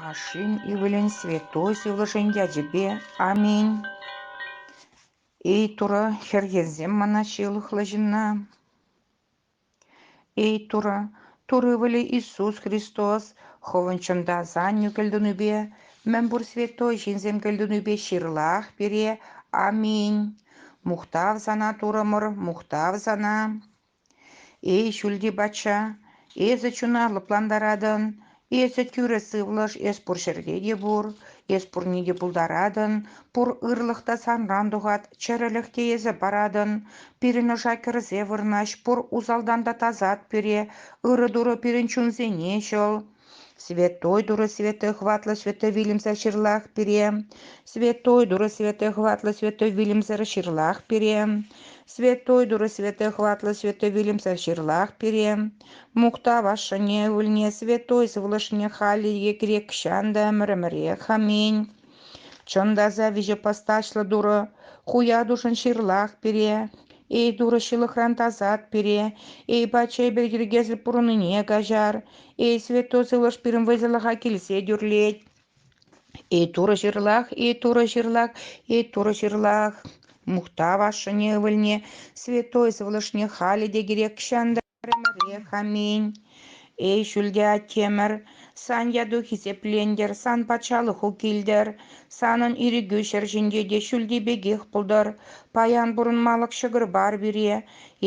Ашшӗн ывӑлӗн святой сывлӑшӗн ячӗпе аминь. Эй Турӑ, хӗрхенсем мана ҫылӑхлӑ ҫынна. Эй Турӑ, Тур ывӑлӗ Иисус Христос хӑвӑн чунта сан кӗлтунипе, мӗн пур святой ҫынсем кӗлтунипе ҫырлах пире. Аминь. Мухтав сана, Турӑмӑр, мухтав сана. Эй, ҫӳлти патша, эсӗ чуна лӑплантаратӑн, эсӗ тӳрӗ сывлӑш, эс пур ҫӗрте те пур, эс пурне те пултаратӑн, пур ырлӑх та санран тухать, чӗрӗлӗх те эсӗ паратӑн. Пирӗн ӑша кӗрсе вырнаҫ, пур усалтан та тасат пире, ырӑ-турӑ пирӗн чунсене ҫӑл. Святой Туры Святой Хватлӑ Святой вилӗмсӗр ҫырлах пире. Святой Туры Святой Хватлӑ Святой вилӗмсӗр ҫырлах пире. Святой Туры Святой Хватлӑ Святой вилӗмсӗр ҫырлах пире. Мухтав ашшӗне, ывӑлне, святой сывлӑшне халӗ грек чан та ӗмӗрӗмӗрех. Аминь. Чӑн та аса виҫӗ постачлӑ Турӑ, Хуятушӑн ҫырлах пире, Эй Турӑ ҫылӑхран тасат пире, Эй Патша эпир йӗркесӗр пурӑннине каҫар, Эй Святой Сывлӑш пирӗн вӑйсӑрлӑха килсе тӳрлет. Эй Турӑ ҫырлах, Эй Турӑ ҫырлах, Эй Турӑ ҫырлах, мухтав ашшӗне, ывӑлне, Святой Сывлӑшне халӗ те кирек ҫанталӑк Пӗрремӗрех, аминь. Эй, ҫӳлте Аттемӗр, сан яту хисеплентӗр, сан патшалӑху килтӗр, санӑн ирӗкӳ ҫӗр ҫинче те ҫӳлти пекех пултӑр. Паян пурӑнмалӑх ҫӑкӑр пар пире.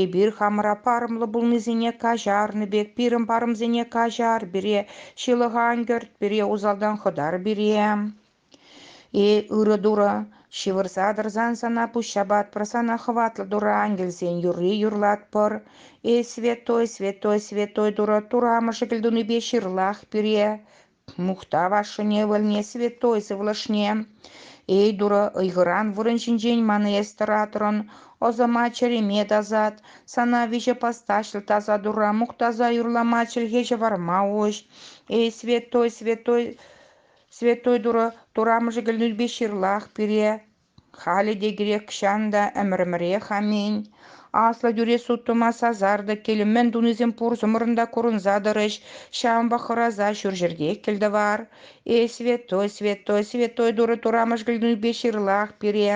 Эпир хамӑра парӑмлӑ пулнисене каҫарнӑ пек пирӗн парӑмсене каҫар пире, ҫылӑха ан кӗрт пире, усалтан хӑтар пире. Э, ырӑ тура, ҫывӑрса тӑрсан сана пуҫҫапа отпрасана хӑватлӑ тура ангелсен юрри юрлатпӑр. Э, святой, святой, святой тура, тура мӑшӑкӗл тунипе ҫырлах пире. Мухтав ашшӗне ывӑлне, святой сывлӑшне. Эй, Турӑ, ыйхӑран вырӑн ҫинчен ман эстӗр атрӑн, ӑсӑма чӗреме тасат, сана виҫӗ постаҫлӑ таса тура мухтаса юрлама чӗлхе ҫӑварма уҫ. Эй, святой, святой, Святой Турӑ турамӑшӗ кӗлнӳпе ҫырлах пире, халӗ те грекҫан та ӗмӗр-ӗмӗрех аминь, аслӑ тӳрех суттӑма сасартӑк кӗлӗмӗн тунисем пурсӑмӑрӑн та курӑнса тӑрӗҫ, ҫавӑнпа хӑраса ҫурҫӗрте кӗлтӑвар. Эй, Святой, Святой, Святой Турӑ турамӑш кӗлнӳпе ҫырлах пире,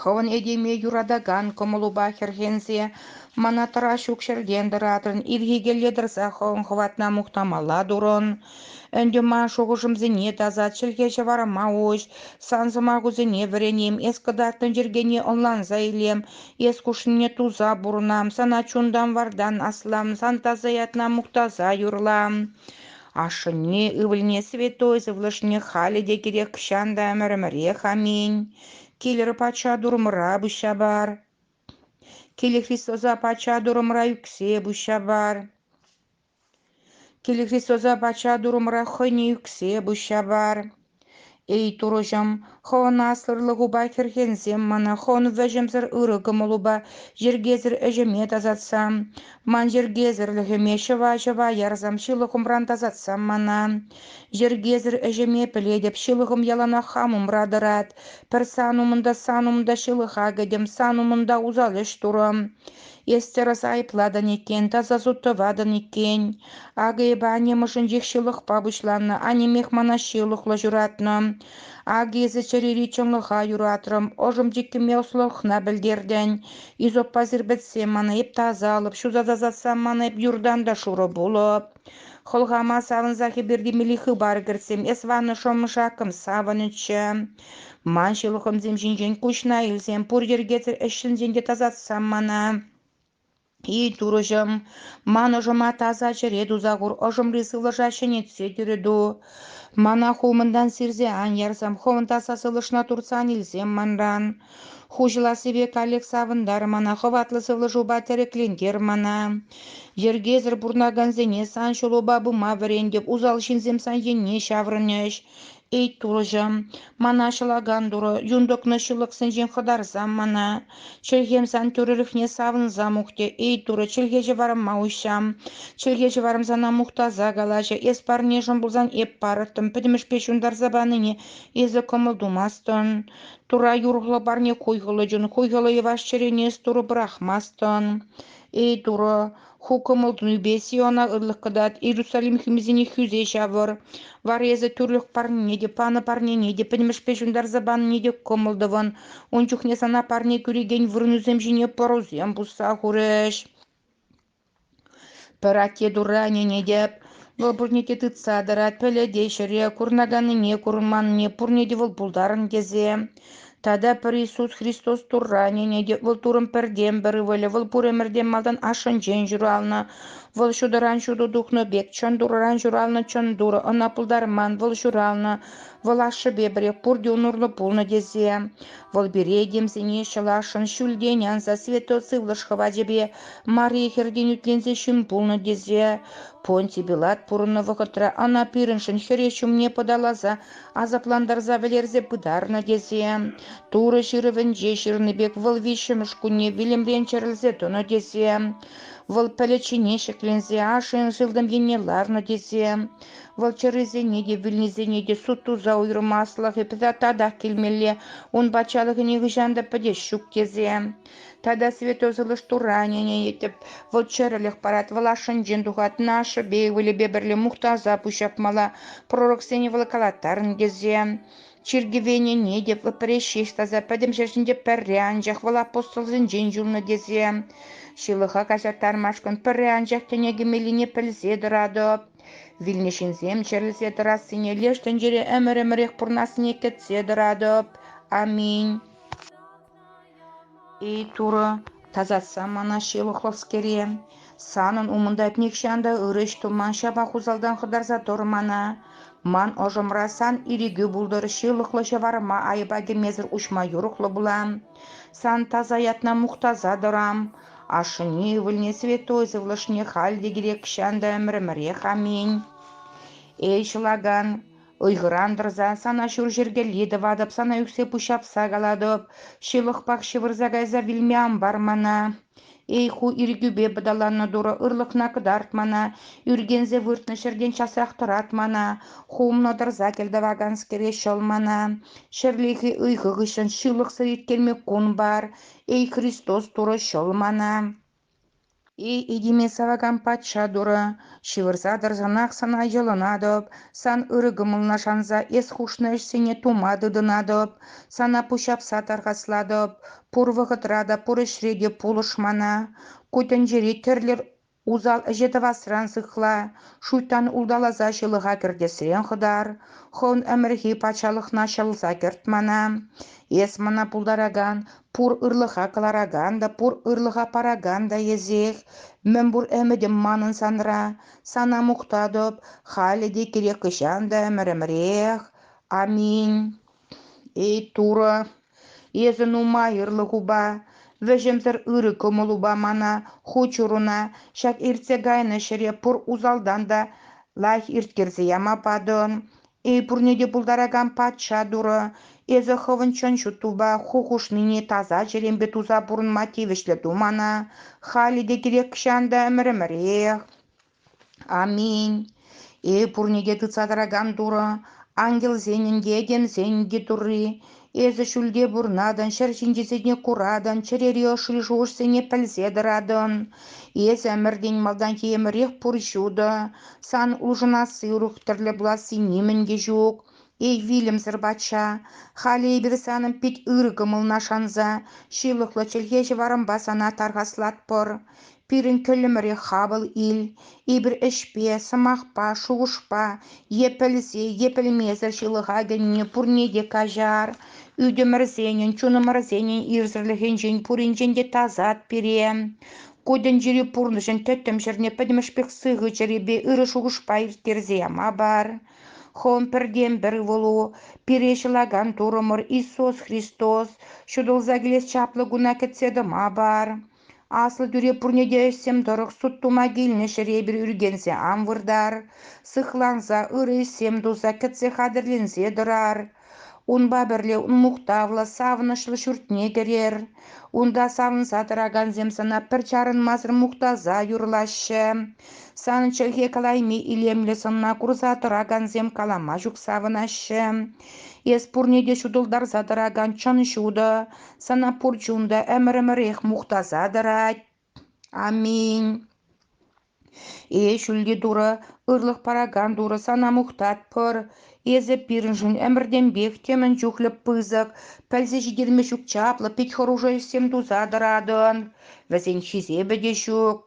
Хӑвӑн этеме юратакан кӑмӑлупа хӗрхенсе мана тӑра ҫук ҫӗртен тӑратрӑн, ирхиелле тӑрса хӑвӑн хӑватна мухтамалла турӑн. Ӗнтӗ ман шухӑшӑмсене таса чӗлхе-ҫӑварӑма уҫ, сан сӑмахусене вӗренем, эс кӑтартнӑ йӗркене ӑнланса илем, эс хушнине туса пурӑнам, сана чунтан-вартан аслам, сан таса ятна мухтаса юрлам. Ашшӗне, ывӑлне, святой сывлӑшне халӗ те кирек чан та ӗмӗрӗмӗрех аминь. Килӗр пачча турӑмӑра пуҫҫа пар. Килӗ Христоса пачча турӑмӑра ӳксе пуҫҫа пар. Килӗ Христоса пачча турӑмӑра хӑйне ӳксе пуҫҫа пар. Эй, Турӑҫӑм, Хӑвӑн аслӑрлӑхупа хӗрхенсем мана Хӑвӑн вӗҫӗмсӗр ырӑ кӑмӑлупа йӗркесӗр ӗҫӗме тасатса, ман йӗркесӗрлӗхӗме ҫӑва-ҫӑва ярсам ҫылӑхӑмран тасатсам мана. Йӗркесӗр ӗҫӗме пӗлетӗп, ҫылӑхӑм яланах хам умра тӑрать. Пӗр сан умӑнта, сан умта ҫылӑха кӗтӗм, сан умӑнта усал ӗҫ турӑм. Эс тӗрӗс айӑплатӑн иккен, таса суд тӑватӑн иккен. Акӑйӑпа аннем ӑшӗнчех ҫылӑхпа пуҫланнӑ, аннемех мана ҫылӑхлӑ ҫуратнӑ. Акӑ эсӗ чӗрири чӑнлӑха юратрӑм, ӑшӑм чиккиме ӑслӑлӑхна пӗлтертӗн. Изоппа сирпӗтсе мана эп тасалӑп, ҫуса тасатсам мана эп юртан та шурӑ пулӑп. Хӑлхама савӑнса хӗпӗртемелли хыпар кӗртсем, эс ваннӑ шӑмӑшакӑм, савӑнӗччӗ. Ман ҫылӑхӑмсем ҫинчен куҫна илсем, пур йӗркесӗр ӗҫҫӗнсен те тасатсам мана. И, турӑҫӑм, ман ӑшӑма таса чӗре туса хур, ӑшӑмри сывлӑша ҫӗнетсе тӳрӗту. Мана хулмӑнтан сирсе ан ярсам, хӑвӑн таса сывлӑшна туртсан илсем манран. Хуҫӑлассипе каллех савӑнтар мана, хӑватлӑ сывлӑшупа тӗреклентер мана. Йӗркесӗр пурӑнакансене сан ҫулупа пыма вӗрентӗп, усал ҫынсем сан енне ҫаврӑнӗҫ. Эй, турӑҫӑм, мана ҫӑлакан турӑ, юн тӑкнӑ ҫылӑхсенчен хӑтарсам мана. Чӗлхем сан тӳрӗлӗхне савӑнса мухтӗ. Эй, турӑ, чӗлхе ҫӑварӑма уҫҫам. Чӗлхе ҫӑварӑм сана мухтаса калаҫӗ. Эс парнешӗн пулсан эп парӑттӑм. Пӗтӗмӗшпе ҫунтарса панине эсӗ кӑмӑл тумастӑн. Тура юрӑхлӑ парне хуйхӑллӑ чун хуйхӑллӑ йӑваш чӗрене Турӑ пӑрахмастӑн. Эй Турӑ, ху кӑмӑл-тунипе Сиона ырлӑх кӑтарт, Иерусалим хӳмисене хӳсе ҫавӑр. Вара эсӗ тӳрлӗх парнене те, панӑ парнене те, пӗтӗмӗшпе ҫунтарса панине те кӑмӑл тӑвӑн. Ун чухне сана парне кӳрекен вырӑнусем ҫине пӑрусем пусса хурӗҫ. Пӗр атте Турра ӗненетӗп, вӑл пурне те тытса тӑрать, пӗлет те ҫӗре курӑнаканнине, курӑнманнине, пурне те вӑл пултарӑн тесе. Тата пӗр Иисус Христос Турра ӗненетӗп, вӑл Туррӑн пӗртен-пӗр ывӑлӗ, вӑл пур ӗмӗртен малтан ашшӗнчен ҫуралнӑ, вӑл ҫутӑран ҫутӑ тухнӑ пек, чӑн Турран ҫуралнӑ чӑн Турӑ ӑна пултарман, вӑл ҫуралнӑ, вӑл ашшӗпе пӗрех пурте ун урлӑ пулнӑ тесе. Вӑл пире, темсене, ҫӑласшӑн ҫӳлтен анса святой сывлӑш хӑвачӗпе Мария хӗртен ӳтленсе ҫын пулнӑ тесе Понтий Пилат пурӑннӑ вӑхӑтра ӑна пирӗншӗн хӗре ҫумне пӑталаса асаплантарса вӗлерсе пытарнӑ тесе Турӑ ҫырӑвӗнче ҫырнӑ пек вӑл виҫҫӗмӗш кунне вилӗмрен чӗрӗлсе тӑнӑ тесе вӑл пӗлӗт ҫине ҫӗкленсе ашшӗн сылтӑм енне ларнӑ тесе вӑл чӗррисене те вилнисене те суд туса уйӑрмаслӑхӗ татах килмелле ун патшалӑхӗ нихӑҫан та пӗтес ҫук тесе Тата Святой Сылӑш Туранӗне йӗтӗп. Вӑл чӗрӗлӗх парать, вӑл ашшӗнчен тухатӑн. Ашшӗпе ывӑлӗпе пӗрле мухтаса пуҫҫапмалла. Пророксене вӑлкалаттарӑн тесе. Чиркӗвенене те вӗпре ҫеҫ таса пӗтӗм ҫӗр ҫинче пӗрре анчах вӑл апостолсенчен юлнӑ тесе. Ҫылӑха каҫарттармашкӑн пӗрре анчах тӗне кӗмеллине пӗлсе тӑратӑп. Вилнӗ ҫынсем чӗрӗлсе тӑрассине леш тӗнчере ӗмӗр-ӗмӗрех пурӑнассине кӗтсе тӑратӑп. Аминь. Эй, Турӑ, тасатса мана ҫылӑхлӑскере. Санӑн умӑнта нихҫан та ырӑ ӗҫ туман ҫапах усалтан хӑтарса тӑр мана. Ман ӑшӑмра сан ирӗкӳ пултӑр, ҫылӑхлӑ ҫӑварӑма айӑпа кӗмесӗр уҫма юрӑхлӑ пулам. Сан таса ятна мухтаса тӑрам. Ашшӗне, ывӑлне, святой сывлӑшне халь те кирек ҫан та ӗмӗрӗмӗрех аминь. Эй, ҫӑлакан, Ыйхӑран тӑрсан сана ҫурҫӗркелли тӑватӑп, сана ӳксе пуҫҫапса калатӑп. Ҫывӑхпах ҫывӑрса кайса вилме ан пар мана. Эй ху ирӗкӳпе пӑталаннӑ турӑ, ырлӑхна кӑтарт мана, ӳркенсе выртнӑ ҫӗртен часрах тӑрат мана, хумлӑ тӑрса кӗлтӑваканскере ҫӑл мана. Ҫӗрлехи ыйхӑ хыҫҫӑн ҫылӑхсӑр ирткелме кун пар, эй Христос турӑ ҫӑл мана. Этеме савакан патша турӑ, ҫывӑрса тӑрсанах сана йӑлӑнатӑп, сан ырӑ кӑмӑлна шанса эс хушнӑ ӗҫсене тума тытӑнатӑп, сана пуҫҫапса тархаслатӑп, пур вӑхӑтра та, пур ӗҫре те пулӑш мана. Ку тӗнчере тӗрлӗ усал ӗҫе тӑвасран сыхла, шуйттан улталаса ҫылӑха кӗртесрен хӑтар, хӑвӑн ӗмӗрхи патшалӑхна ҫӑлса кӗрт мана. Эс мана пултаракан пур ырлӑха кӑларакан та, пур ырлӑха паракан та эсех. Мӗнпур ӗмӗтӗм манӑн санра. Сана мухтатӑп халӗ те кирек хӑҫан та ӗмӗрӗмӗрех. Аминь. Эй, Турӑ, эсӗ нумай ырлӑхупа, вӗҫӗмсӗр ырӑ кӑмӑлупа мана, хут ҫуруна, ҫак иртсе кайнӑ ҫӗре пур усалтан та лайӑх ирттерсе яма патӑн. Эй, пурне те пултаракан патша турӑ, эсӗ хӑвӑн чӑн ҫуттупа ху хушнине таса чӗремпе туса пурӑнма тивӗҫлӗ ту мана. Халӗ те кирек-ҫан та ӗмӗр-ӗмӗрех. Аминь. Эй, пурне те тытса тӑракан турӑ, ангелсенӗн те, этемсенӗн те Турри, Эсӗ ҫӳлте пурӑнатӑн, ҫӗр ҫинчисене куратӑн, чӗрери ӑшри шухӑшсене пӗлсе тӑратӑн. Эсӗ ӗмӗртен малтанхи ӗмӗрех пур ҫутӑ. Сан улшӑнасси урӑх тӗрлӗ пуласси нимӗн те ҫук. Эй, вилӗмсӗр патша, халӗ эпир санӑн пит ырӑ кӑмӑлна шанса ҫылӑхлӑ чӗлхе ҫӑварӑмпа сана тархаслатпӑр. Пирӗн кӗллӗмӗрех хапӑл ил, эпир ӗҫпе, сӑмахпа, шухӑшпа е пӗлсе е пӗлмесӗр ҫылӑхаканни пурне те каҫар. Ӳтӗмӗрсенӗн, чунӑмӑрсенӗн ирсӗрлӗхӗнчен пуринчен те тасат пире. Ку тӗнчери пурнӑҫӑн тӗттӗм ҫӗрне пӗтӗмӗшпех сыхӑ чӗрепе ырӑ шухӑшпа ирттерсе мабар. Хӑвӑн пӗртен-пӗр ывӑлу, пире ҫӑлакан Турӑмӑр Иисус Христос, ҫутӑлса килес чаплӑ куна кӗтсе тӑма пар. Аслӑ тӳре пурне те ӗҫсем тӑрӑх суд тума килнӗ ҫӗре эпир ӳркенсе ан выртар, сыхланса ырӑ ӗҫсем туса кӗтсе хатӗрленсе тӑрар. Унпа пӗрле мухтавлӑ, савӑнӑҫлӑ ҫуртне кӗрер. Унта савӑнса тӑракансем сана пӗр чарӑнмасӑр мухтаса юрлаҫҫӗ. Санӑн чӗлхе калайми илемлӗ сӑнна курса тӑракансем калама ҫук савӑнаҫҫӗ. Эс пурне те ҫутӑлтарса тӑракан чӑн ҫутӑ, Сана пур чун та ӗмӗр-ӗмӗрех мухтаса тӑрать. Аминь. Э, ҫӳлти Турӑ, ырлӑх паракан Турӑ, сана мухтатпӑр. Эсӗ пирӗншӗн ӗмӗртенпех темӗн чухлӗ пысӑк, пӗлсе ҫитерме ҫук чаплӑ, пит хӑрушӑ ӗҫсем туса тӑратӑн. Вӗсен хисепӗ те ҫук.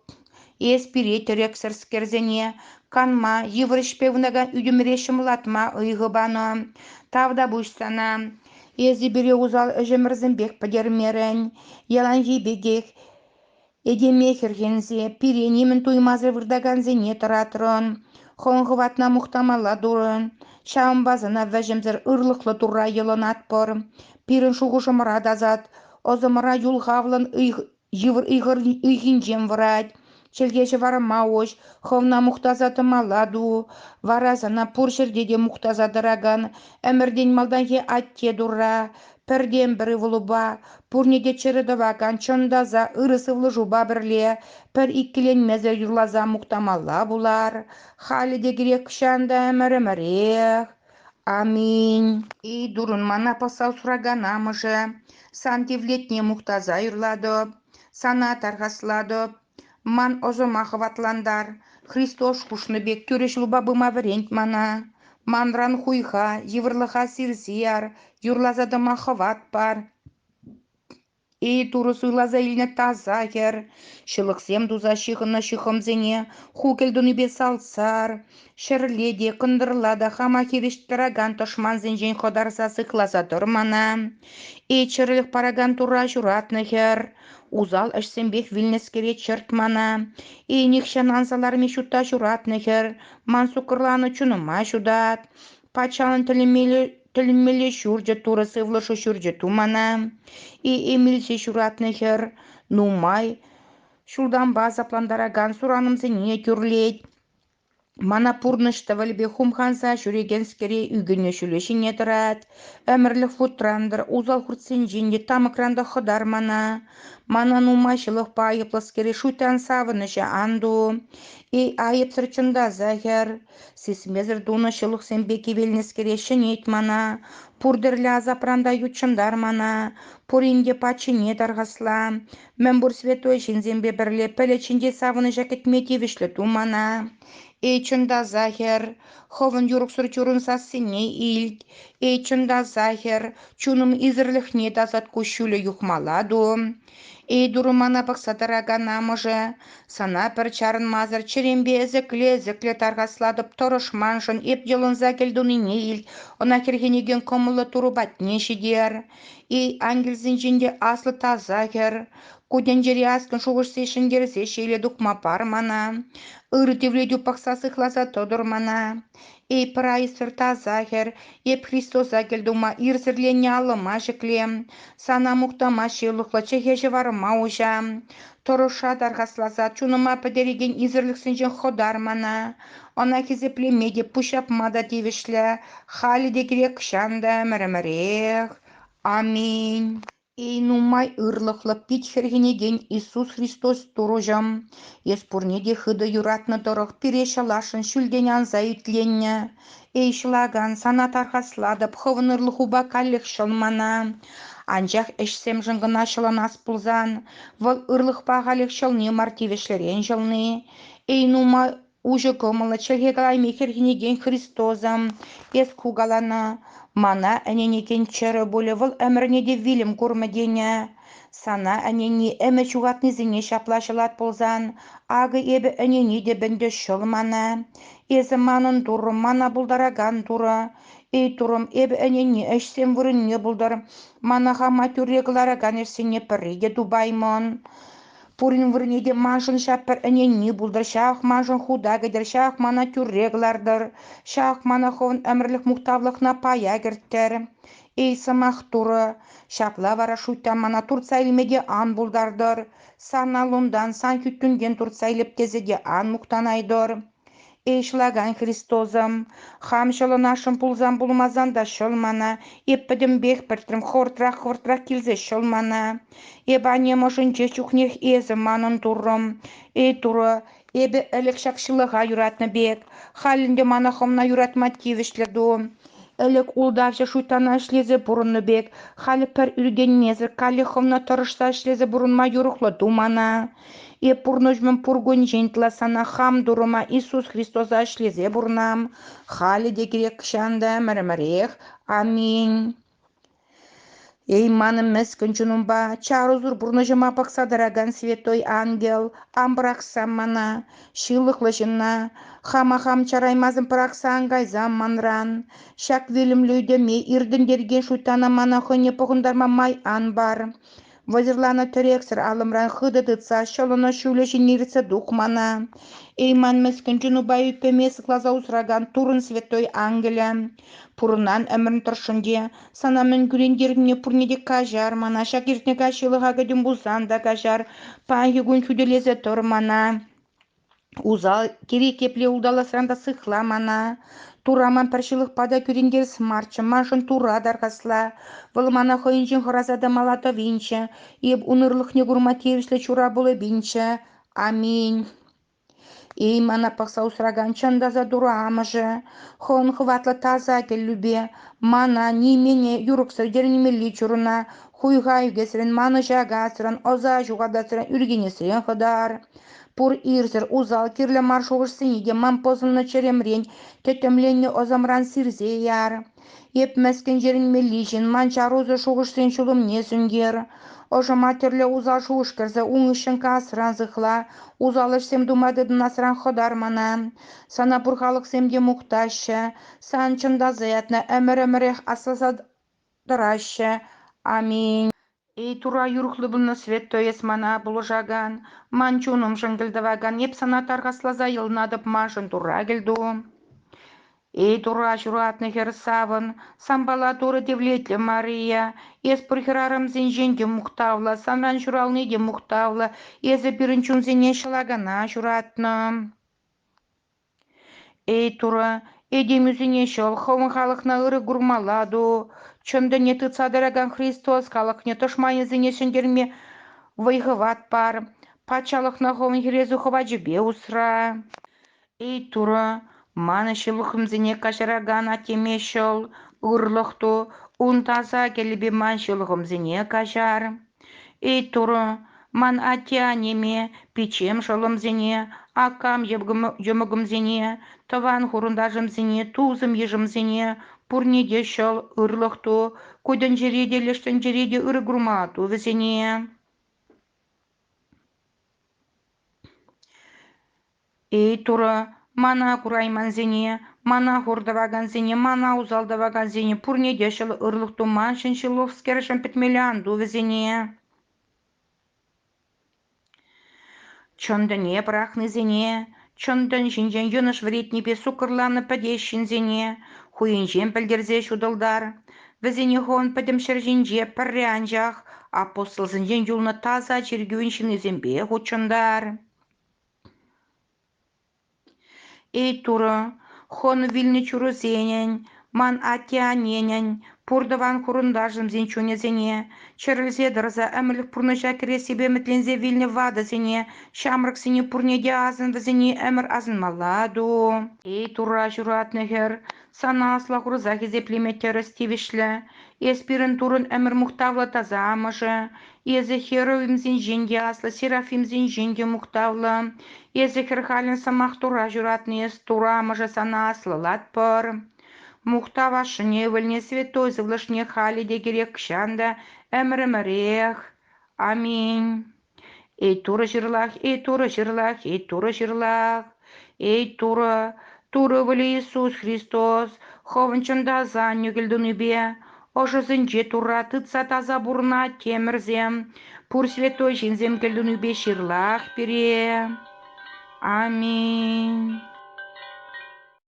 Эс пире тӗрексӗрскерсене канма, йывӑр ӗҫпе вунакан ӳтӗмӗре ҫӑмӑллатма ыйхӑ панӑ. Тав та пуҫ сана. Эсӗ пире усал ӗҫӗмӗрсемпех пӗтермерӗн. Яланхи пекех этеме хӗрхенсе пире нимӗн туймасӑр выртакансене тӑратрӑн. Хӑн-хӑватна мухтамалла турӑн. Ҫавӑнпа сана вӗҫӗмсӗр ырлӑхлӑ Турра йӑлӑнатпӑр. Пирӗн шухӑшӑмӑра тасат, ӑсӑмӑра юлхавлӑн ыйх Йывӑр ыйхинчен вӑрать. Чӗлхеҫӗ вара маоҫ, хӑвна мухтаса тӑмалла ту. Вара сана пур ҫӗрте те мухтаса тӑракан ӗмӗртен малтанхи атте турра, пӗртен-пӗр ывӑлупа, пурне те чӗрӗ тӑвакан чӑн та аса ырӑ сывлӑшупа пӗрле пӗр иккӗленмесӗр юрласа мухтамалла пулар. Халӗ те кирек чӑн та ӗмӗр-ӗмӗрех. Аминь. И дурӑн мана пӑсса суракан амӑшӗ, сан тивлетне мухтаса юрлатӑп, сана тархаслатӑп. Ман ӑсӑма хӑватлантар. Христос хушнӑ пек тӳрӗ ҫулпа пыма вӗрент мана. Манран хуйха, йывӑрлӑха сирсе яр, юрласа тӑма хӑват пар. Эй, турӑ суйласа илнӗ таса хӗр, ҫылӑхсем туса ҫыхӑннӑ ҫыхӑмсене ху кӗлтунипе салтсар, ҫӗрле те, кӑнтӑрла та хама хирӗҫ тӑракан тӑшмансенчен хӑтарса сыхласа тӑр мана. Эй, чӗрӗлӗх паракан тура ҫуратнӑ хӗр, усал ӗҫсемпех вилнӗскере чӗрт мана. Эй, нихҫан анса ларми ҫутта ҫуратнӑ хӗр, ман суккӑрланӑ чунӑма ҫутат. Патшалӑн тӗлӗмелле тӗлӗнмелле ҫурчӗ турӑ сывлӑшӗ ҫурчӗ тумана илсе ҫуратнӑ хӗр нумай ҫултанпа асаплантаракан суранӑмсене тӳрлет. Мана пурнӑҫ тӑвӑлӗпе хумханса ҫӳрекенскере ӳкӗнӳ ҫулӗ ҫине тӑрать. Ӗмӗрлӗх вутрантӑр, усал хуртсенчен те, тамӑкран та хӑтар мана. Мана нумай ҫылӑхпа айӑплӑскере шуйттан савӑнӑҫӗ ан ту. Эй, айӑпсӑр чӑнтаса хӗр, Сисмесӗр тунӑ ҫылӑхсемпе кивелнӗскере ҫӗнет мана. Пур тӗрлӗ асапран та ютшӑнтар мана. Пурин те паччине тархасла. Мӗн пур святой ҫынсемпе пӗрле пӗлӗт ҫинчи савӑнӑҫа кӗтме тивӗҫлӗ ту мана. Эй чӑн та Захар, хӑвӑн юрӑхсӑр чурун сассине илт. Эй чӑн та Захар, чунӑм исӗрлӗхне тасат куҫҫулӗ юхмала ту. Эй-турӑ мана пӑхса тӑракан амӑшӗ, сана пӗр чарӑнмасӑр чӗремпе ӗсӗкле-ӗсӗкле тархаслатӑп, тӑрӑшманшӑн эп йӑлӑнса кӗлтунине ил, ӑна хӗрхенекен кӑмӑллӑ турӑ патне ҫитер. Эй, ангелсенчен те аслӑ таса хӗр, ку тӗнчере аслӑн шухӑшсене ҫӗнтерсе ҫейле тухма пар мана, ыр тивлетӳ пӑхса сыхласа тӑтӑр мана. Эй Прайсӑр таса хӗр, эп Христоса кӗлтума ирсӗрленнӗ алӑма ҫӗклем, сана мухтама ҫылӑхлӑ чӗхе ҫӑварма уҫа. Тӑрӑшса тархасласа чунӑма пӗтерекен исӗрлӗхсенчен хӑтар мана. Ӑна хисеплеме те, пуҫҫапма та тивӗҫлӗ. Халӗ те кирек чан та ӗмӗрӗмӗрех. Аминь. Эй нумай ырлӑхлӑ пит хӗрхенекен Иисус Христос Турӑҫӑм, эс пурне те хытӑ юратнӑ тӑрӑх пире ҫӑласшӑн ҫӳлтен анса итленнӗ. Эй ҫӑлакан, сана тархаслатӑп, хӑвӑнӑрлӑхупа каллех ҫӑл мана. Анчах ӗҫсемшӗн кӑна ҫӑлӑнас пулсан, вӑл ырлӑхпа халех ҫӑлни мар тивӗҫлӗрен ҫӑлни. Эй нумай Уҫӑ кӑмӑллӑ чӗлхе калайми хӗрхенекен Христоза эс кукалана. Мана ӗненекен чӗрӗ пулӗ вӑл ӗмӗрне те вилӗм курмӗ тенӗ. Сана ӗнени ӗмӗ ҫухатнисене ҫапла ҫӑлать пулсан, акӑ эпӗ ӗнени те ӗнтӗ ҫӑл мана. Эсӗ манӑн Турӑ, мана пултаракан Турӑ. Эй Турӑм, эпӗ ӗнени ӗҫсем вырӑнне пултӑр. Мана хама тӳрре кӑларакан ӗҫсене пӗрре те тупаймӑн. Пурин вырӑнне те маншӑн ҫак пӗр ӗненми пултӑр, ҫак маншӑн хута кӗтӗр, ҫак мана тӳрре кӑлартӑр, ҫак мана хӑвӑн ӗмӗрлӗх-мухтавлӑхна пая кӗрттӗр. Эй, сӑмах турӑ, ҫапла вара шуйттан мана туртса илме те ан пултартӑр, сан аллунтан, сан хӳттӳнтен туртса илеп тесе те ан мухтанайтӑр. Иҫлаган Христосӑм, хам ҫӑлӑнасшӑн пулсан пулмасан та ҫӑл мана, эп пӗтӗмпех пӗртрӗм хӑвӑртрах-хӑвӑртрах килсе ҫӑл мана. Эпӗ аннем ӑшӗнче чухнех эсӗ манӑн Туррӑм. Эй Турӑ, эпӗ ӗлӗк ҫак ҫылӑха юратнӑ пек, халь ӗнтӗ мана хӑвна юратма тивӗҫлӗ ту. Ӗлӗк ултавҫӑ шуйттана ӗҫлесе пурӑннӑ пек, халь пӗр ӳркенмесӗр каллех хӑвна тӑрӑшса ӗҫлесе пурӑнма юрӑхлӑ ту мана. Эп пурнӑҫӑм пуркунчен тӑлассанах хам турӑма Иисус Христоса ӗҫлесе пурӑнам. Халӗ те кирек чан та ӗмӗрӗмӗрех. Аминь. Эй, манӑн мӗскӗн чунӑмпа, чарусӑр пурнӑҫӑма пӑхса тӑракан святой ангел, ан пӑрахса мана, ҫылӑхлӑ ҫынна, хама хам чараймасӑн пӑрахса ан кайсам манран. Ҫак вилӗмлӗ ӳтӗме иртӗнтерекен шуйтана мана хӑйне пӑхӑнтарма май ан пар. Вӑйсӑрланӑ тӗрексӗр алӑмран хытӑ тытса ҫӑлӑнӑ ҫулӗ ҫине иртсе тухмана. Эйман мӗскӗн Джинупа ӳппеме сыхласа усракан Туррӑн святой ангелӗ. Пурӑнан ӗмӗрӗн тӑршшӗнче сана мӗн кӳрентернине пурне те каҫар, мана ҫак иртнӗ каҫ ҫылӑха кӗтӗм пулсан та каҫар, паянхи кун хӳтӗлесе тӑр мана. Усал, кирек епле улталасран та сыхла мана. Тура ман пӗр ҫылӑхпа та кӳрентерес марччӗ, маншӑн тура тархасла. Вӑл мана хӑйӗнчен хӑраса та мала тӑвинччӗ, эп ун ырлӑхне курма тивӗҫлӗ чура пулӑпинччӗ. Аминь. Эй, мана пӑхса усракан чӑн таса Турӑ Амӑшӗ, хӑвӑн хӑватлӑ таса кӗллӳпе мана нимене юрӑхсӑр тӗлӗнмелли чурӑна хуйха ӳкесрен, манӑҫа касран, ӑса ҫухатасран, ӳркенесрен хӑтар. Пур ирсӗр усал кирлӗ мар шухӑшсене те ман пӑсӑннӑ чӗремрен тӗттӗмленнӗ ӑсӑмран сирсе яр. Эп мӗскӗн йӗрӗнмелли ҫын ман чарусӑр шухӑшсен ҫулӑмне сӳнтер. Ӑшӑма тӗрлӗ усал шухӑш кӗрсе ун хыҫҫӑн касран сыхла, усал ӗҫсем тума тытӑнасран хӑтар мана. Сана пур халӑхсем те мухтаҫҫӗ, сан чӑн та заятна ӗмӗр-ӗмӗрех асласа тӑраҫҫӗ. Аминь. Эй тура юрӑхлӑ пулнӑ Святой эс мана, пулӑшакан, ман чунӑмшӑн кӗлтӑвакан, эп сана тархасласа йӑлнатӑп маншӑн Турра кӗлту. Эй Тура ҫуратнӑ хӗр савӑн, сампала Турӑ тивлетлӗ Мария, эс пур хӗрарӑмсенчен те мухтавлӑ, санран ҫурални те мухтавлӑ, эсӗ пирӗн чунсене ҫӑлакана ҫуратнӑ. Эй, Турӑ, этем ӳсӗне ҫӑл хӑвӑн халӑхна ырӑ курмалла ту, чӑн тӗне тытса тӑракан Христос халӑхне тӑшманӗсене ҫӗнтерме вӑй-хӑват пар, патшалӑхна Хӑвӑн хӗресӳ хӑвачӗпе усра. Эй, Турӑ, ман ҫылӑхӑмсене каҫаракан Аттеме ҫӑл, ырлӑх ту, ун таса кӗлӗпе ман ҫылӑхӑмсене каҫар. Эй Турӑ, ман атте-аннеме, пиччем шӑллӑмсене, акам йӑмӑкӑмсене, тӑван-хурӑнташӑмсене, тусӑм-йышӑмсене пурне те ҫӑл, ырлӑх ту, ку тӗнчере те, леш тӗнчере те ырӑ курма ту вӗсене. Эй, Турӑ, мана кураймансене, мана хур тӑвакансене, мана усал тӑвакансене пурне те ҫӑл ырлӑх туманшӑн ҫыллӑскершӗн пӗтмелле ан ту вӗсене. Чӑн тӗне пӑрахнисене, чӑн тӗн ҫинчен йӑнӑш вӗретнипе суккӑрланӑ пӗтес ҫынсене хӑйӗнчен пӗлтерсе ҫутӑлтар. Вӗсене хӑвӑн пӗтӗм ҫӗр ҫинче пӗрре анчах апостолсенчен юлнӑ таса чиркӳн ҫыннисемпе хутшӑнтар. Эй Турӑ, Хӑн вилнӗ чурусенӗн, ман атте-анненӗн, пуртӑван-хурӑнташӑмсен чунӗсене, чӗрӗлсе тӑрса ӗмӗрлӗх пурнӑҫа кӗрессипе ӗмӗтленсе вилнӗ ватӑсене, ҫамрӑксене пурне те асӑн вӗсене ӗмӗр асӑнмалла ту. Эй Турра ҫуратнӑ хӗр, Сана аслӑ курса хисеплеме тӗрӗс тивӗҫлӗ. Эс пирӗн турӑн ӗмӗр-мухтавлӑ таса амӑшӗ. Эсӗ херувимсенчен те аслӑ серафимсенчен те мухтавлӑ. Эсӗ хӗрхалӗн сӑмах тура ҫуратнӑ эс турӑ амӑшӗ сана аслӑлатпӑр. Мухтав ашшӗне, ывӑлне, святой сывлӑшне халӗ те кирек чан та ӗмӗр-ӗмӗрех. Аминь. Эй турӑ ҫырлах, эй турӑ ҫырлах, эй турӑ ҫырлах, эй турӑ, турӑ ывӑлӗ Иисус Христос, хӑвӑн чӑн та сан нӳкӗлтунипе ӑшӑсенче Турра тытса таса пурӑнать темӗрсем, пур святой ҫынсем кӗлтунипе ҫырлах пире. Аминь.